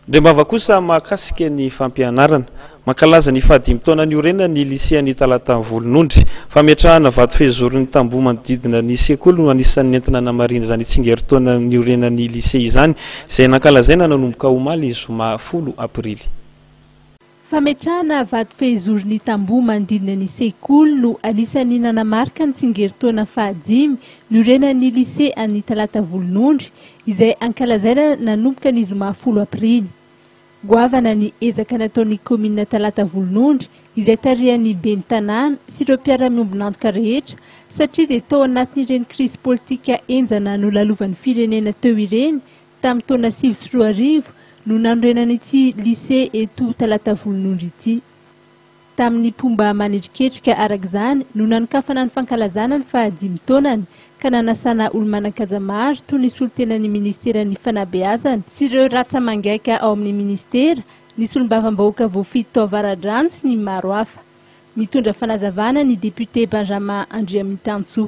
Andriambava kosa mahakasika ny fampianarana. Mankalaza ny fahadimy taona niorenany ny lisean'ny Talata Volonondry. Fametrahana vato fehizoro ny tamboho manodidina ny sekoly no anisan'ny nentina namarihina izany tsingerin-taona niorenan'ny lise izany, izay nankalazaina nanomboka omaly zoma folo aprily. Fametrahana vato fehizoro ny tamboho manodidina ny sekoly no anisan'ny nanamarika ny tsingerintaona fahadimy niorenan'ny Lycée an'ny talata volonondry izay ankalazaina nanomboka ny zoma folo aprily. Goavana ny ezaka nataon'ny kaominina talata volonondry izay tarihan'ny ben'ny tanàna sy ireo mpiara-miombon'antoka rehetra satria dia tao anatin'ireny krizy politika henjana nolalovan'ny firenena teo ireny Tamin'ny taona sivy sy roa arivo no nanorenana ity Lycée eto Talatavononondry ity. Tamin'ny mpomba manendriketrika araka izany no nanokafana ny fankalazana ny faha dimy taonany ka nanasana olo-manan-kaja maro toy ny solontenan'ny Ministeran'ny Fanabeazana sy ireo ratsa-mangaika ao amin'ny Ministera, ny solombavambahoaka voafidy tao Avaradrano sy ny maro hafa. Mitondra fanazavana ny Député Benjamin Andriamintantsoa.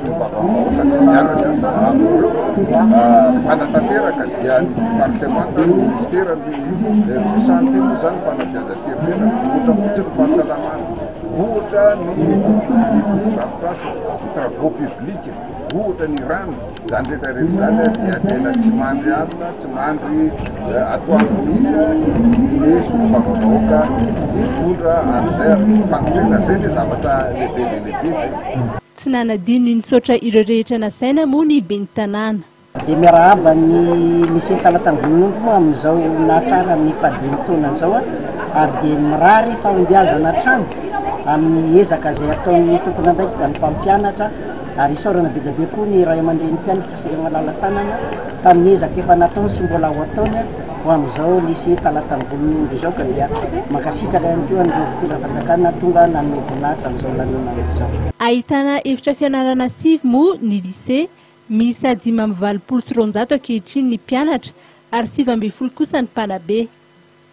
Fomba vahaolana ny mianatra sahabo hanatanteraka dia ny departemanta ary ny minisitera no misanatena izany fanabeazam-pirenena. Ohatra fotsiny ny fahasalamana, ohatra ny drafitransa, ny travaux publics, ohatra ny rano. Izany rehetra rehetra izany dia tena tsy mandry alina, tsy mandry atoandro mihitsy ny solombavambahoaka mitondra an'izay ary fakotrena. Izay ilay zavatra lehibe dia lehibe izay. Tsy nanadino ny nitsaotra ireo rehetra nasaina moa ny ben'ny tanàna. Dia miarahaba ny Lycée Talatandronono moa amin'izao nahatrarany ny fahadimy taonany izao ary dia mirary fahombiazana hatrany amin'ny ezaka izay ataon'ny tompon'andraikitra ny mpampianatra ary isaorana be dia be koa ny Ray aman-drenim-pianatra. Very malala tanana tamin'ny ezaka efa nataony sy mbola ho ataony ho amin'izao nisy talatany volon'ny omby izao ka dia mankasitraka ihany koa an'ireo mpitondra fanjakana tonga nanome voninahitra an'izao lanonana izao. Ahitana efitra fianarana sivy moa ny Lycée, miisa dimy amby valopolo sy roanjato ankehitriny ny mpianatra ary sivy ambin'ny folo kosa ny mpanabe.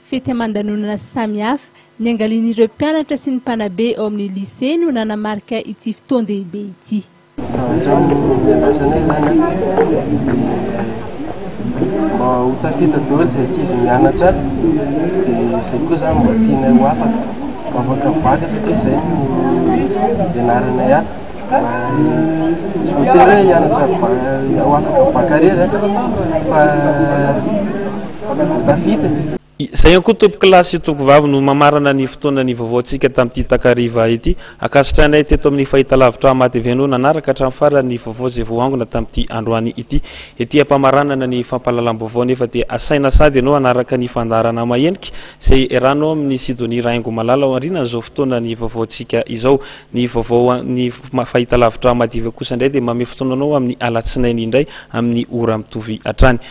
Fety aman-danonana sy samihafa niangalian'ireo mpianatra sy ny mpanabe ao amin'ny Lycée no nanamarika ity fotoan-dehibe ity. Efa hatramin'ny niandrasanay izany dia mba ho tafita daholo izay ankizy mianatra ato dia izay koa izany mba tianay ho afaka mba afaka vaky satria izay no ianaranay ato tsy voatery hoe hianatra ho afaka bakare izany fa ho tafita e! Izay ihany koa tompokolahy sy tonkovavy no mamarana ny fotoana nivaovaontsika tamin'ity takariva ity. Ankasitrahanay teto amin'ny fahitalavitra Ama TV no nanaraka hatramin'ny farany ny vaovao izay voaangona tamin'ity androany ity. Ety am-pamaranana ny fampahalalam-baovao nefa dia asaina sady ianao hanaraka ny fandaharana mahenika izay eranao amin'i Sidonie Rahaingomalala ao aorianan'izao fotoana nivaovaontsika izao. Ny vaovaon'ny fahitalavitra Ama TV kosa indray dia manome fotoana anao amin'ny alatsinainy indray amin'ny ora mitovy hatrany.